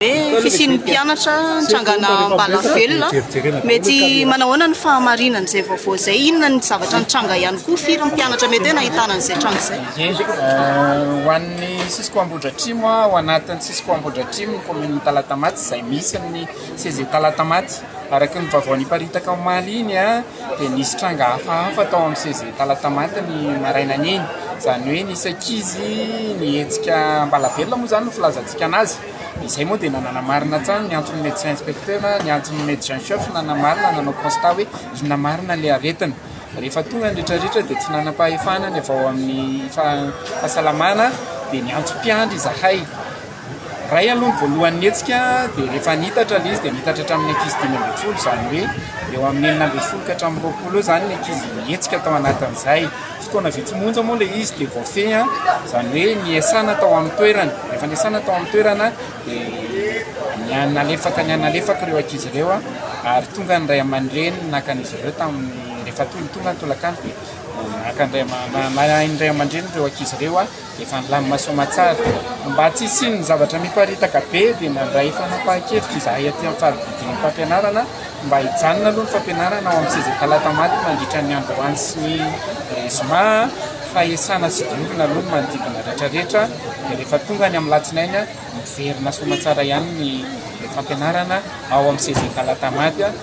hoe fisian'ny mpianatra nitrangana am-balavelona, mety manao ahoana ny fahamarinana izay vaovao izay? Inona ny zavatra nitranga ihany koa? Firy ny mpianatra mety hoe nahitana an'izay tranga izay? Ye, ho an'ny Cisco Ambohidratrimo, ao anatin'ny Cisco Ambohidratrimo ny kaominin'i Talatamaty izay misy ny CEG Talatamaty. Araka ny vaovao niparitaka omaly iny dia nisy tranga hafahafa tao amin'ny CEG Talatamaty ny maraina an'iny, izany hoe nisy ankizy nihetsika am-balavelona moa izany no filazantsika an'azy. Izay moa dia nanamarina hatrany ny anton'ny médecin inspecteur, ny anton'ny médecin chef nanamarina, nanao constat hoe inona marina ilay aretina. Rehefa tonga ny ritraritra dia tsy nanam-pahefana ny avy ao amin'ny fahasalamana dia niantso mpiandry izahay. Ray aloha ny voalohany nihetsika dia rehefa niitatra ilay izy dia niitatra hatramin'ny ankizy dimy ambin'ny folo izany hoe eo amin'ny enina ambin'ny folo ka hatramin'ny roapolo eo izany ny ankizy nihetsika tao anatin'izay. Fotoana vitsy monja moa ilay izy dia voafehy, izany hoe niasana tao amin'ny toerana. Rehefa niasana tao amin'ny toerana dia nihanalefaka nihanalefaka ireo ankizy ireo ary tonga ny ray aman-dreniny naka an'izy ireo tamin'ny, rehefa tonga ny tolakandro dia naka ny ray aman-dreniny ireo ankizy ireo. Efa nilamina soamatsara. Mba tsy hisian'ny zavatra miparitaka be dia nandray fanapahan-kevitra izahay aty amin'ny fari-pidian'ny fampianarana mba hijanona aloha ny fampianarana ao amin'ny seza talata maty mandritra ny androany sy ny zoma fa hiasana sy diovina aloha ny manodidina rehetrarehetra dia rehefa tonga ny amin'ny latsinainy miverina soamatsara ihany ny fampianarana ao amin'ny seza talata maty.